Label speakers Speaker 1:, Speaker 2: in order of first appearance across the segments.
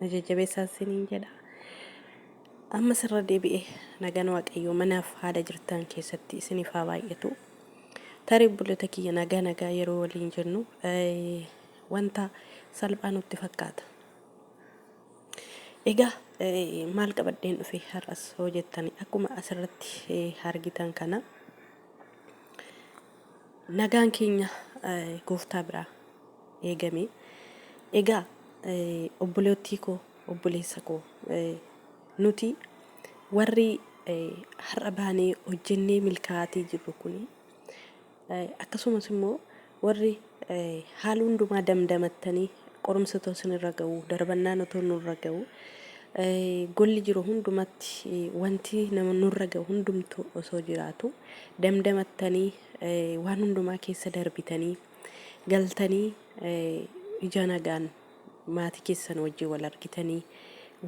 Speaker 1: na jajjabeessaa isiniin jedha. Amma sirra deebi'e nagaan waaqayyoo manaaf haala jirtaan keessatti isiniif haa baay'atu. Tarii obbolota kiyya nagaa nagaa yeroo waliin jennu wanta salphaa nutti fakkaata. Egaa maal qabadheen dhufe har'as hoo jettani akkuma asirratti argitan kana Nagaan keenya gooftaa biraa eegame. Egaa obboleettii koo obboleessa koo nuti warri har'a baanee hojjennee milkaa'aatii jirru kun akkasumas immoo warri Haal hundumaa damdamattanii qorumsi otoo isinirra ga'uu, darbannaan otoo nurra ga'uu, golli jiru hundumatti wanti nama nurra ga'u hundumtu osoo jiraatu damdamattanii waan hundumaa keessa darbitanii galtanii ija nagaan maatii keessan wajjin wal argitanii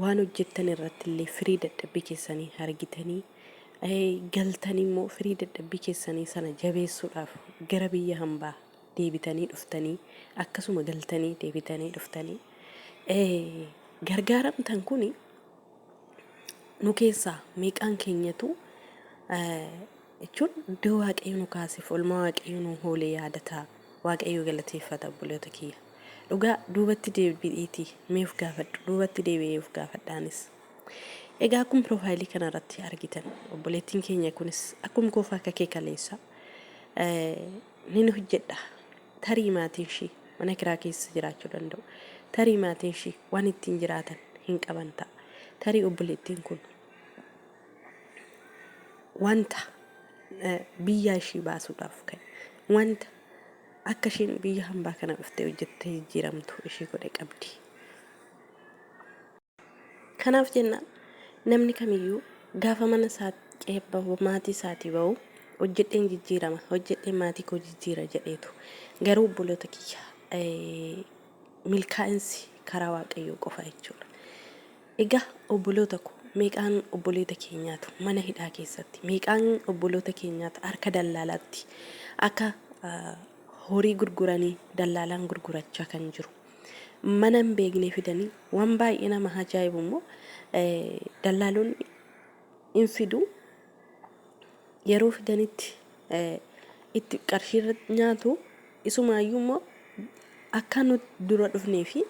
Speaker 1: waan hojjettan irratti illee firii dadhabbii keessanii argitanii galtanii immoo firii dadhabbii keessanii sana jabeessuudhaaf gara biyya hambaa deebitanii dhuftanii akkasuma galtanii deebitanii dhuftanii gargaaramtan kun nu keessaa meeqaan keenyatu jechuun iddoo waaqayyo nu kaasef olmaa waaqayyo nu hoolee yaadata waaqayyo galateeffata obboloota kiyya dhugaa duubatti deebi'iitii meef gaafadhu duubatti deebi'ee of gaafadhaanis Egaa akkum profile kana irratti argitan obboleettiin keenya kunis akkum koofa akka kee kaleessa nin hojjedha tarii maatiin ishii mana kiraa keessa jiraachuu danda'u tarii maatiin ishii waan ittiin jiraatan hin qaban ta'a tarii obboleettiin kun wanta biyyaa ishii baasuudhaaf kan wanta akka isheen biyya hambaa kana dhuftee hojjettee jijjiiramtu ishii godhe qabdi. Kanaaf jenna namni kamiyyuu gaafa mana isaa ce'ee bahu, maatii isaatii bahu hojjedheen jijjiirama, hojjedheen maatii koo jijjiira jedheetu. Garuu obboloota kiyya milkaa'insi karaa Waaqayyoo qofa jechuudha. Egaa obboloota ko meeqaan obboloota keenyaatu mana hidhaa keessatti, meeqaan obboloota keenyaatu harka dallaalaatti akka horii gurguranii dallaalaan gurgurachaa kan jiru. mana hin beekne fidanii waan baay'ee nama ajaa'ibu immoo dallaalonni hin fidu yeroo fidanitti itti qarshii irra nyaatu isumaayyuu immoo akka nuti dura dhufnee fi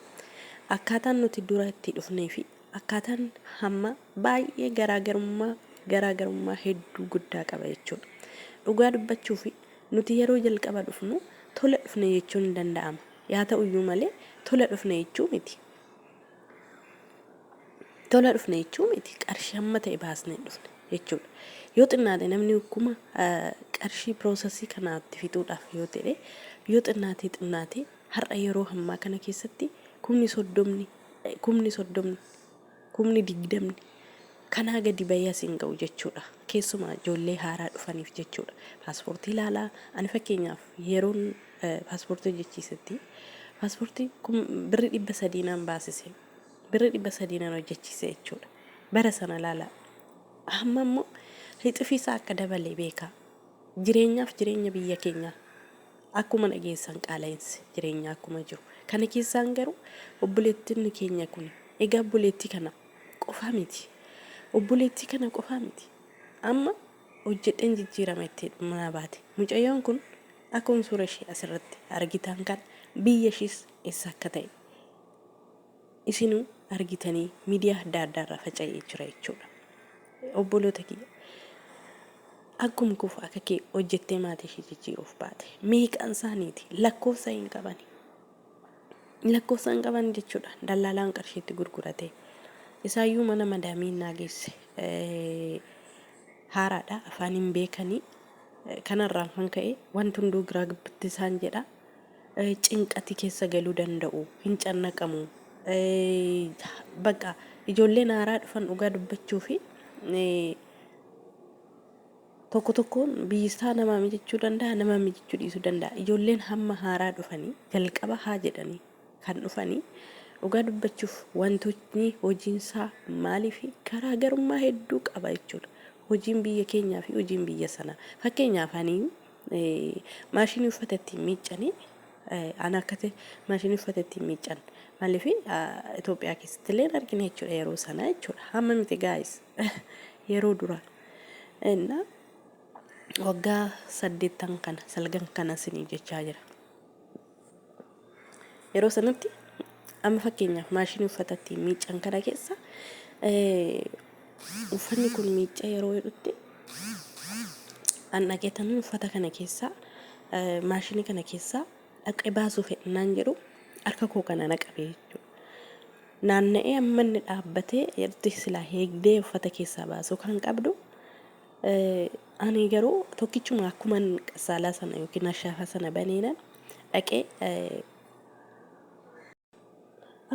Speaker 1: akkaataan nuti dura itti dhufnee fi akkaataan hamma baay'ee garaagarummaa garaagarummaa hedduu guddaa qaba jechuudha. Dhugaa dubbachuuf nuti yeroo jalqaba dhufnu tola dhufne jechuun ni danda'ama. Yaa ta'u iyyuu malee, tola dhufne jechuu miti. Tola dhufne jechuu miti. Qarshii hamma ta'e baasnee hin dhufne jechuudha. Yoo xinnaate namni kuma qarshii piroosasii kanaatti fixuudhaaf yoo ta'e yoo xinnaatee xinnaatee har'a yeroo hammaa kana keessatti kumni soddomni kumni soddomni kumni digdamni kanaa gadi bahee as hin ga'u jechuudha. Keessumaa ijoollee haaraa dhufaniif jechuudha. Paaspoortii ilaalaa ani fakkeenyaaf yeroon paaspoortii hojjechiisetti paaspoortii birri dhibba sadii naan baasise. Birri dhibba sadii naan hojjechiise jechuudha. Bara sana ilaalaa. Amma immoo rixifiisaa akka dabale beekaa. Jireenyaaf jireenya biyya keenyaa Akkuma dhageessan qaala'insi jireenyaa akkuma jiru kana keessaan garuu obboleettonni keenya kun egaa obboleettii kana qofaa miti obboleettii kana qofaa miti amma hojjedheen jijjiirama itti manaa baate mucayyoon kun akkuma suura ishee asirratti argitaan kana biyya ishiis eessa akka ta'e Isinuu argitanii midiyaa adda addaa irraa faca'ee jira jechuudha. Obboloota kiyya akkuma kufu akka kee hojjettee maatii ishee jijjiiruuf baate meeqaan isaaniiti lakkoofsa hin qabani. Lakkoofsa hin qaban jechuudha dallaalaan qarshiitti gurgurate. Isaayyuu mana madaamii naa geesse eh, haaraadha afaan hin beekanii kanarraan kan ka'e wanti hunduu giraa gibbitti isaan jedha cinqati kessa galu danda'u hin cannaqamu baqa ijoolleen haaraa dhufan dhugaa dubbachuu fi tokko tokkoon biyyisaa namaa mijachuu danda'a namaa mijachuu dhiisuu danda'a ijoolleen hamma haaraa dhufanii jalqaba haa jedhanii kan dhufanii dhugaa dubbachuuf wantootni hojiinsaa maalii fi garaagarummaa hedduu qaba jechuudha hojiin biyya keenyaa fi hojiin biyya sanaa fakkeenyaaf anii Maashinii uffata ittiin miiccanii an akkati maashinii uffata ittiin miiccan maaliif Itoophiyaa keessatti illee argina jechuudha yeroo sana jechuudha hamma miti gaayis yeroo duraa innaa waggaa saddeettan kana salgan kana sinii jechaa jira. Yeroo sanatti amma fakkeenyaaf maashinii uffata ittiin miiccan kana keessa uffanni kun miicca yeroo jedhutti dhandhageetan uffata kana keessaa maashinii kana keessaa dhaqee baasuu fedhinaan jedhu harka koo kana naqabee jechuudha. Naanna'ee amma inni dhaabbatee itti silaa heegdee uffata keessaa baasuu kan qabdu Ani garuu tokkichuma akkuman qassaalaa sana yookiin ashaafaa sana baneenan dhaqee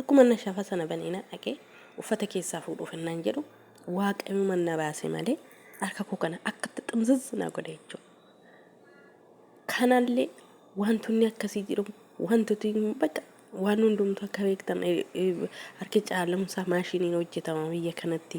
Speaker 1: akkuma ashaafaa sana baneenan dhaqee uffata keessaa fuudhuuf innaan jedhu waaqayyuma na baase malee harka koo kana akkatti ximzizz na godhe jechuudha. Kanallee wantoonni akkasii jiru wantooti bakka waan hundumtu akka beektan harki caalamsaa maashiniin hojjetama biyya kanatti.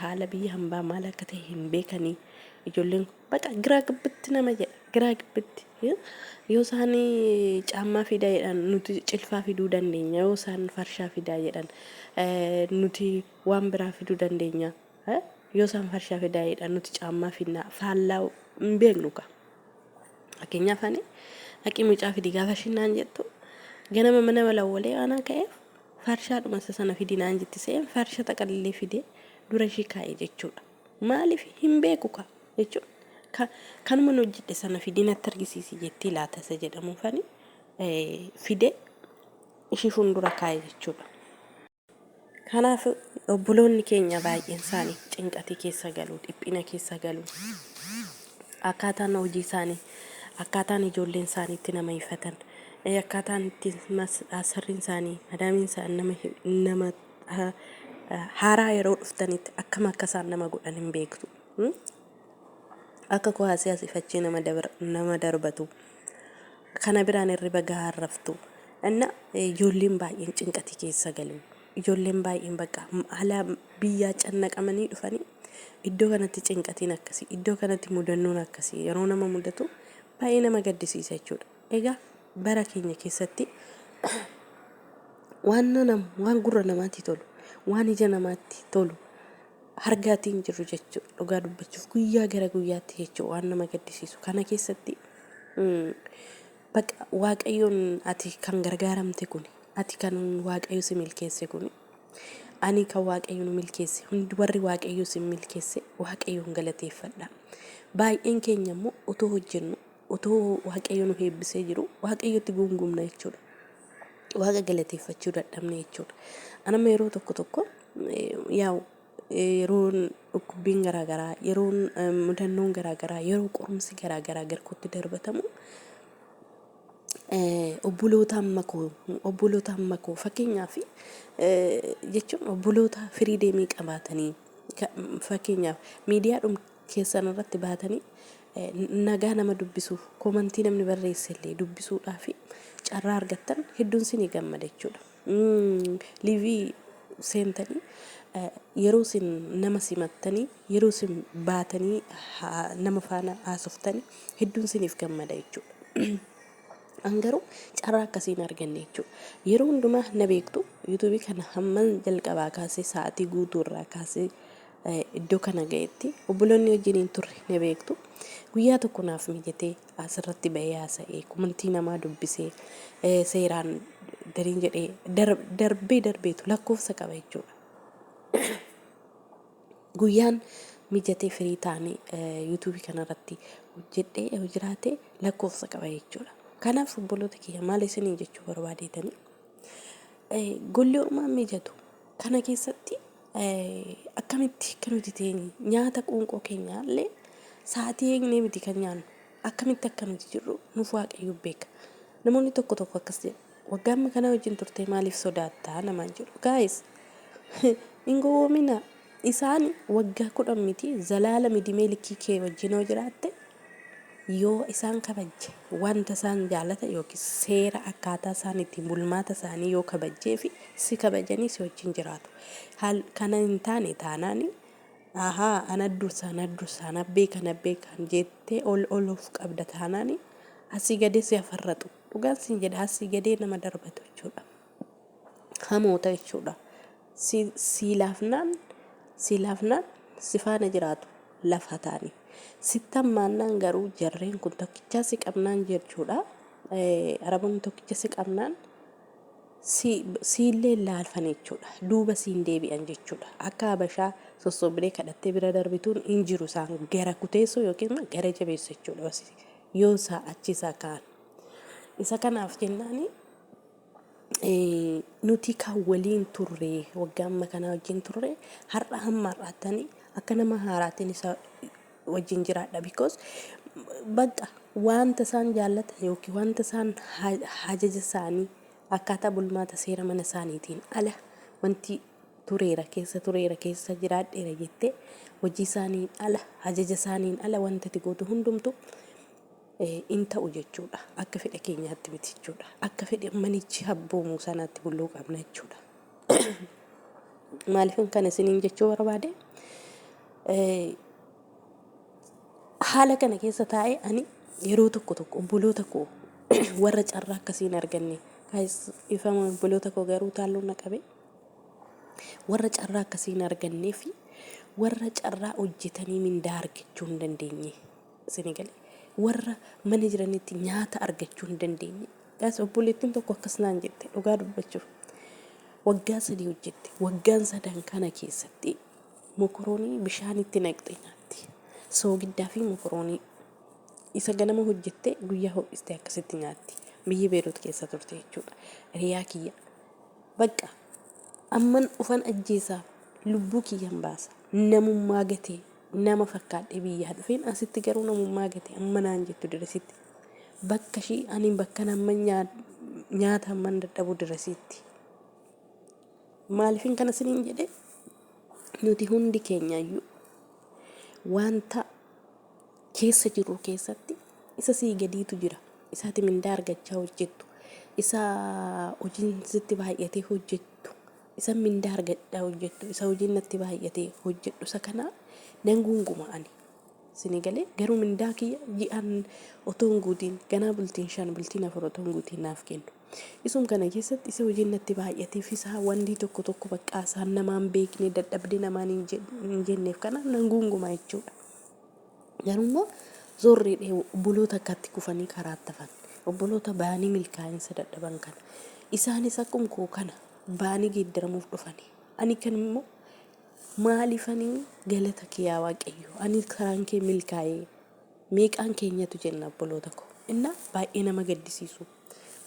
Speaker 1: Haala biyya hambaa maal akka ta'e hin beekanii ijoolleen kun baqa giraa gibbitti nama jedha giraa gibbitti eh? yoo isaan caammaa fidaa jedhan nuti cilfaa fiduu dandeenya yoo isaan farshaa fidaa jedhan eh, nuti waan biraa fiduu dandeenya eh? yoo isaan farshaa fidaa jedhan nuti caammaa fidnaa faallaa hin beeknu kaa fakkeenyaaf ani haqii mucaa fidi gaafa shinnaan jettu ganama mana walawwalee aanaa ka'eef Farshaadhuma isa sana fidi naan jetti se'een farsha xaqallee fidee dura ishii kaa'e jechuudha. Maaliif hin beeku kaa jechuun ka- kanuma nu hojjedhe sana fidii natti argisiisi jettii laata isa jedhamu fani eh, fidee ishii fuuldura kaa'e jechuudha. Kanaaf obboloonni keenya baay'een isaanii cinqatii keessa galu, dhiphina keessa galu. Akkaataan hojii isaanii, akkaataan ijoolleen isaanii itti nama hifatan, akkaataan itti asirriin isaanii, madaamiin isaan nama nama haaraa yeroo dhuftanitti akkam akka isaan nama godhan hin beektu. Akka kuwaasii asii fachii nama nama darbatu. Kana biraan hirriba gahaa raftu. Anna ijoolleen baay'een cinqatii keessa galu. Ijoolleen baay'een bakka haala biyyaa cannaqamanii dhufanii iddoo kanatti cinqatiin akkasii, iddoo kanatti mudannoon akkasii yeroo nama mudatu baay'ee nama gaddisiisa jechuudha. Egaa bara keenya keessatti waan nama waan gurra namaatti tolu, waan ija namaatti tolu argaatii hin jirru jechuudha. Dhugaa dubbachuuf guyyaa gara guyyaatti jechuudha waan nama gaddisiisu. Kana keessatti mm, Baqa waaqayyoon ati kan gargaaramte kuni ati kan waaqayyo si milkeesse kuni ani kan waaqayyo nu milkeesse hundi warri waaqayyo sin milkeesse waaqayyoon galateeffadha baay'een keenya immoo otoo hojjennu otoo waaqayyo nu eebbisee jiru waaqayyotti guungumna jechuudha waaqa galateeffachuu dadhabne jechuudha anama yeroo tokko tokko eh, yaa'u yeroon dhukkubbiin garaa garaa, yeroon mudannoon garaa garaa, yeroo qorumsi garaa garaa garkootti darbatamu obboloota amma koo obboloota amma koo fakkeenyaa fi jechuun obboloota firii deemii qabaatanii fakkeenyaaf miidiyaa dhum keessan irratti baatanii nagaa nama dubbisuuf komantii namni barreessellee dubbisuudhaa fi carraa argattan hedduun sinii gammada jechuudha. Liivii seentanii yeroo isin nama simattanii yeroo isin baatanii haa- nama faana haasoftanii hedduun isiniif gammada jechuudha. An garuu carraa akkasii hin arganne jechuudha. Yeroo hundumaa na beektu yuutuubii kana hamman jalqabaa kaasee sa'aatii guutuu irraa kaasee eh, iddoo kana ga'etti obboloonni wajjin hin turre na beektu. Guyyaa tokko naaf mijatee asirratti bahee haasa'ee komantii namaa dubbisee seeraan gariin jedhee darbee darbeetu lakkoofsa qaba jechuudha. Guyyaan mijatee firii taane yuutuubii kanarratti hojjedhee yoo jiraate lakkoofsa qaba jechuudha. Kanaaf obboloota kiyya maal isinii jechuu barbaadeetanii golli uumaan mijatu kana keessatti Akkamitti akka nuti teenyu nyaata qoonqoo keenyaa illee sa'aatii eegnee miti kan nyaannu akkamitti akka nuti jirru nuuf waaqayyo beeka. Namoonni tokko tokko akkas jedhu waggaa amma kanaa wajjin turtee maaliif sodaattaa namaan jedhu. Gaayis hin gowwoomina isaan waggaa kudhan miti zalaalami dimee likkii kee wajjin yoo jiraatte Yoo isaan kabajje, wanta isaan jaalatan yookiis seera akkaataa isaan ittiin bulmaata isaanii yoo kabajjee fi si kabajanii si wajjin jiraatu. Haal kana hin taane taanaan, ahaa ana dursa na dursa ana beeka na beeka jettee ol ol of qabda taanaan asii gadee si hafarraxu. Dhugaan siin jedha asii gadee nama darbatu jechuudha. hamoota jechuudha si sii laafnaan sii laafnaan si faana jiraatu lafa taani sitti hammaannaan garuu jarreen kun tokkichaa si qabnaan jechuudha Eh, araboonni tokkicha si qabnaan si siillee laalfan jechuudha duuba siin deebi'an jechuudha akka habashaa sossobdee kadhattee bira darbituun hin jiru isaan gara kuteessuu yookiin immoo gara jabeessu jechuudha yoo isaa achi isaa ka'an isa kanaaf jennaani nuti kan waliin turre waggaa amma kanaa wajjin turre har'a hamma har'aattani akka nama haaraatiin isa wajjin jiraadha because bakka wanta isaan jaallatan yookiin wanta isaan ha- hajaja isaanii akkaataa bulmaata seera mana isaaniitiin ala wanti tureera keessa tureera keessa jiraadheera jettee hojii isaaniin ala hajaja isaaniin ala wanta itti gootu hundumtu in ta'u jechuu dha. Akka fedha keenyaatti miti jechuu dha. Akka fedha manichi abboomu sanaatti bulluu qabna jechuu dha. Maaliifin kana isiniin jechuu barbaade? Haala kana keessa taa'ee ani yeroo tokko tokko obboloota koo warra carraa akkasii hin arganne ifama obboloota koo garuu taalluun na qabe warra carraa akkasii hin argannee fi warra carraa hojjetanii mindaa argachuu hin dandeenye Isinii galee? Warra mana jiranitti nyaata argachuu hin dandeenye. Gaas obboleettiin tokko akkas naan jette dhugaa dubbachuuf. Waggaa sadii hojjette. Waggaan sadan kana keessatti mokoroonii bishaanitti naqxee nyaatti. Soogiddaa fi mokoroonii isa ganama hojjettee guyyaa ho'istee akkasitti nyaatti. Biyya Beerut keessa turte jechuudha. Hiriyaa kiyya. Bakka amman ufan ajjeesaa lubbuu kiyyan baasa. Namummaa gatee Nama fakkaadhee biyyaa dhufeen asitti garuu namummaa gate amma naan jettu diresitti. Bakka ishii ani bakka namma nyaata hamman dadhabu diresitti. Maaliifin kana siniin jedhe nuti hundi keenyayyuu wanta keessa jirru keessatti isa sii gadiitu jira. Isaati mindaa argachaa hojjettu. Isa hojiin sitti baay'atee hojjettu. Isan mindaa argadhaa hojjattu isa hojiin natti baay'ate hojjadhu isa kana nan guunguma ani sini galee garuu mindaa kiyya ji'aan otoo hin guutiin ganaa bultiin shan bultiin afur otoo hin guutiin naaf kennu isum kana keessatti isa hojiin natti baay'ate fisaa wandii tokko tokko baqqaa isaan namaan beekne dadhabde namaan hin jed- hin jenneef kana nan guunguma jechuudha garuu immoo zorrii dhee obboloota akkatti kufanii karaatti hafan obboloota baanii milkaa'insa dadhaban kana isaanis akkuma koo kana baanii geeddaramuuf dhufani. Ani kan immoo maalifani galata kee yaa waaqayyoo ani karaan kee milkaa'ee meeqaan keenyatu jenna obboloota koo innaa baay'ee nama gaddisiisu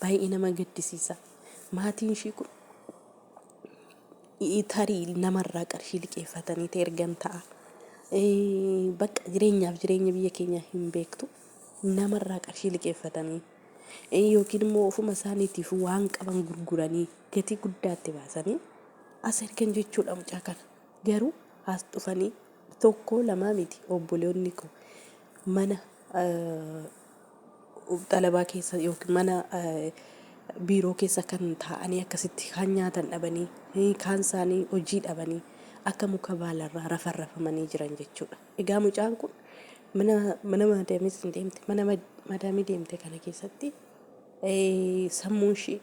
Speaker 1: baay'ee nama gaddisiisa maatiin ishii kun i- tarii namarraa qarshii liqeeffatanii ta'e ergan ta'a Eh, bakka jireenyaaf jireenya biyya keenyaa hin beektu namarraa qarshii liqeeffatanii yookiin immoo ofuma isaaniitiif waan qaban gurguranii gatii guddaatti baasanii as ergan jechuudha mucaa kana. Garuu as dhufanii tokko lamaa miti obboleonni koo mana xalabaa keessa yookiin mana biiroo keessa kan taa'anii akkasitti kaan nyaatan dhabanii kaan isaanii hojii dhabanii akka muka baalarraa rafan rafamanii jiran jechuudha. Egaa mucaan kun Mana mana maadaamis hin deemte. Mana ma- maadaamii deemte kana keessatti eh, sammuun ishii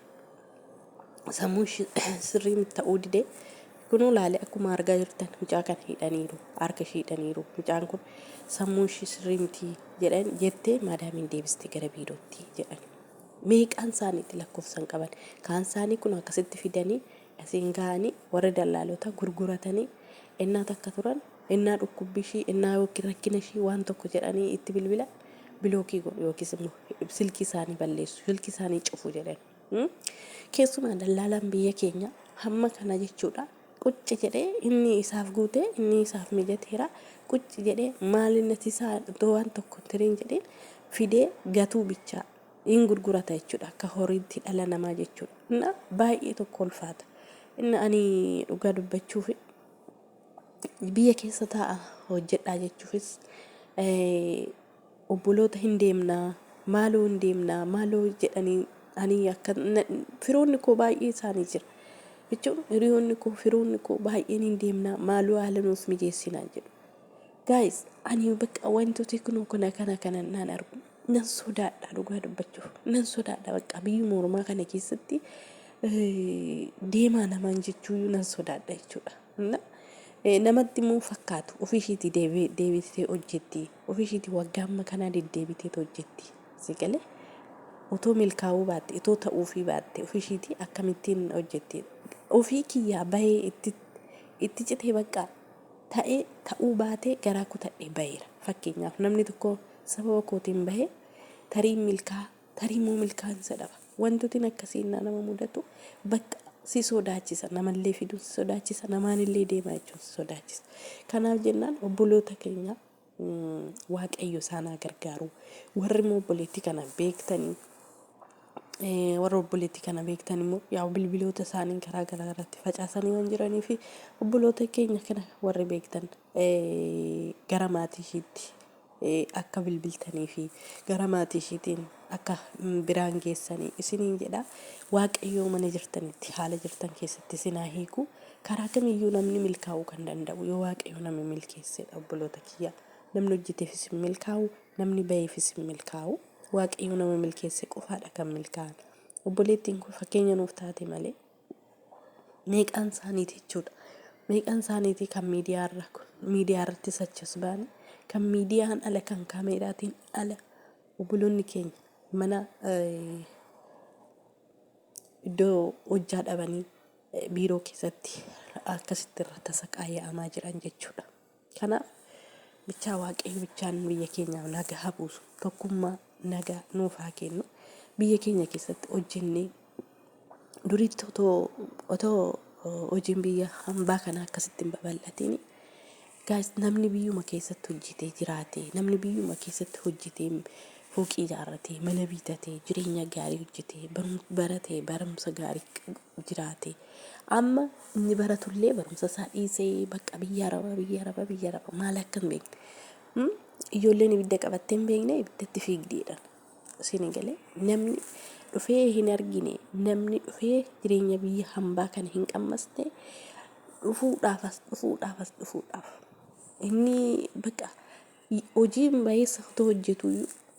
Speaker 1: sammuun ishii sirrii miti ta'uu dide. Kunoo laale akkuma argaa jirtan mucaa kana hidhaniiru. Harka ishii hidhaniiru. Mucaan kun sammuun ishii sirrii miti jedhan jettee maadaamiin deebiste gara biirootti jedhan. Meeqaan isaaniitti lakkoofsan qaban. Kaan isaanii kun akkasitti fidanii asiin ga'anii warri dallaalotaa gurguratanii ennaa takka turan Ennaa dhukkubbi ishii, ennaa ykn rakkina ishii waan tokko jedhanii itti bilbilan bilookii godhu yookiis immoo silkii isaanii balleessu, silkii isaanii cufu jedhan. Keessumaa dallaalaan biyya keenya hamma kana jechuudha qucci jedhee inni isaaf guute inni isaaf mijateera qucci jedhee maaliin nati isaa iddoo waan tokko tiriin jedheen fidee gatuu bichaa in gurgurata jechuudha akka horiitti dhala namaa jechuudha. Inna baay'ee tokko ulfaata. Inna ani dhugaa dubbachuuf biyya keessa taa'a hojjedhaa jechuufis obboloota hin deemnaa maaloo hin deemnaa maaloo jedhanii ani akka firoonni koo baay'ee isaanii jira jechuun hiriyoonni koo firoonni koo baay'een hin deemnaa maaloo haala nuuf mijeessinaa jedhu. Gaayis ani bakka wantooti kun kana kana kana naan argu nan sodaadha dhugaa dubbachuuf nan sodaadha bakka biyyuma ormaa kana keessatti deemaa namaan jechuuyyuu nan sodaadha jechuudha. Hunna ee namatti immoo hin fakkaatu ofii ishiitii deebi- deebitee hojjetti ofii ishiitii waggaa amma kanaa deddeebiteet hojjetti si galee otoo milkaa'uu baatte itoo ta'uufii baatte ofii ishiitii akkamittiin hojjetti ofii kiyyaa bahee itti itti citee baqqaa ta'ee ta'uu baatee garaa kutadhee baheera fakkeenyaaf namni tokko sababa kootiin bahee tarii milkaa Tarii immoo milkaa'insa dhaba. Wantotin akkasii innaa nama mudatu bakka si sodaachisa. Namallee fiduun si sodaachisa. Namaanillee deemaa jechuun si sodaachisa. Kanaaf jennaan obboloota keenya Waaqayyo isaan haa gargaaru. Warri immoo obboleettii kana beektanii warra obboleettii kana beektan immoo yaa bilbiloota isaanii karaa garaa irratti facaasanii waan jiranii fi obboloota keenya kana warri beektan gara maatii ishiitti akka bilbiltanii fi gara maatii ishiitiin akka biraan geessanii isiniin jedha waaqayyoo mana jirtanitti haala jirtan keessatti isin haa hiiku karaa kamiyyuu namni milkaa'uu kan danda'u yoo waaqayyo nama milkeessedha obboloota kiyya namni hojjeteefis hin milkaa'u namni ba'eefis hin milkaa'u waaqayyo nama milkeesse qofaadha kan milkaa'an obboleettiin kun fakkeenya nuuf taate malee meeqaan isaaniiti jechuudha. Meeqaan isaaniiti kan miidiyaa irraa kun miidiyaa irratti sachas baane kan miidiyaan ala kan kaameeraatiin ala obboloonni keenya mana eh, iddoo hojjaa dhabanii eh, biiroo keessatti akkasitti irra tasaqaaya'amaa jiran jechuudha. Kanaaf bichaa waaqayyo bichaan biyya keenyaaf nagaa haa buusu. Tokkummaa nagaa nuuf haa kennu. Biyya keenya keessatti hojjennee duriitti otoo otoo uh, hojiin biyya hambaa kana akkasitti hin babal'atiin gaas namni biyyuma keessatti hojjetee jiraate namni biyyuma keessatti hojjetee fooqii ijaarratee mana biitatee jireenya gaarii hojjetee barumsa baratee barumsa gaarii jiraate. Amma inni baratullee barumsa isaa dhiisee bakka biyya araba biyya araba biyya araba maal akka hin beekne. Hmm? Ijoolleen ibidda qabattee hin beekne ibiddatti fiigdeedha. Isin galee namni dhufee hin argine namni dhufee jireenya biyya hambaa kana hin qammasne dhufuudhaaf as dhufuudhaaf as dhufuudhaaf. Inni bakka hojiin baay'eessa otoo hojjetu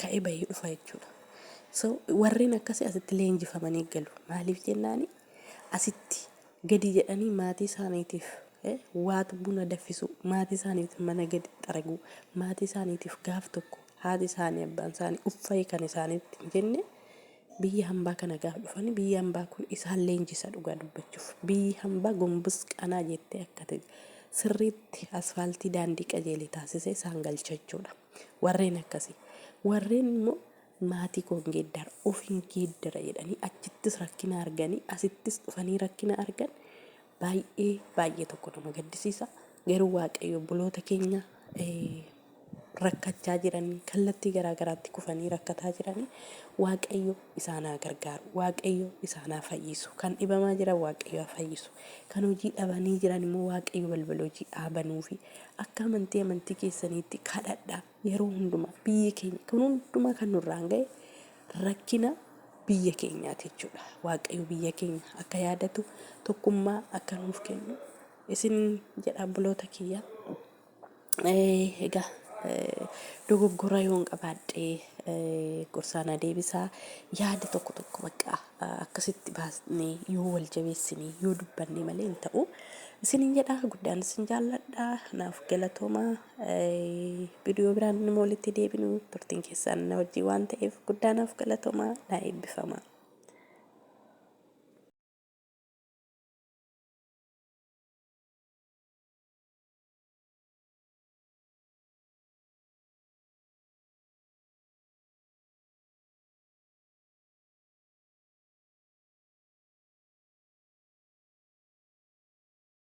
Speaker 1: ka'ee bahee dhufa jechuudha. So warreen akkasii asitti leenjifamanii galu. Maaliif jennaan asitti gadi jedhanii maatii isaaniitiif eh, waatu buna daffisuu, maatii isaaniitiif mana gadi xaraguu, maatii isaaniitiif gaaf tokko haati isaanii abbaan isaanii uffa'ee kan isaaniitti hin jenne Biyya hambaa kana gaaf dhufani biyyi hambaa kun isaan leenjisa dhugaa dubbachuuf. Biyyi hambaa gombus qanaa jettee akka te sirriitti asfaaltii daandii qajeele taasisee isaan galcha jechuudha. Warreen akkasii. Warreen immoo maatii koo hin geeddara, of hin geeddara jedhanii achittis rakkina arganii asittis dhufanii rakkina argan Baay'ee baay'ee tokko nama gaddisiisa garuu waaqayyo obboloota keenya rakkachaa jiran kallattii garaa garaatti kufanii rakkataa jiran waaqayyo isaan haa gargaaru waaqayyo isaan haa fayyisu kan dhibamaa jiran waaqayyo haa fayyisu kan hojii dhabanii jiran immoo waaqayyo balbala hojii haa banuufi akka amantii amantii keessaniitti kadhadhaa Yeroo hundumaa biyyi keenya kun hundumaa kan nurraan ga'e rakkina biyya keenyaati jechuudha. Waaqayyo biyya keenya akka yaadatu tokkummaa akka nuuf kennu isin jedha obboloota kiyya. Eh, Egaa eh, dogoggora yoon qabaadhe eh, gorsaa na deebisaa yaada tokko tokko bakka ah, akkasitti baasnee yoo wal jabeessine yoo dubbanne malee hin ta'u. Isinin jedha guddaan isin jaalladha naaf galatoomaa. Viidiyoo biraan nama walitti deebinu turtiin keessaan na wajjin waan ta'eef guddaa naaf galatomaa naa eebbifamaa.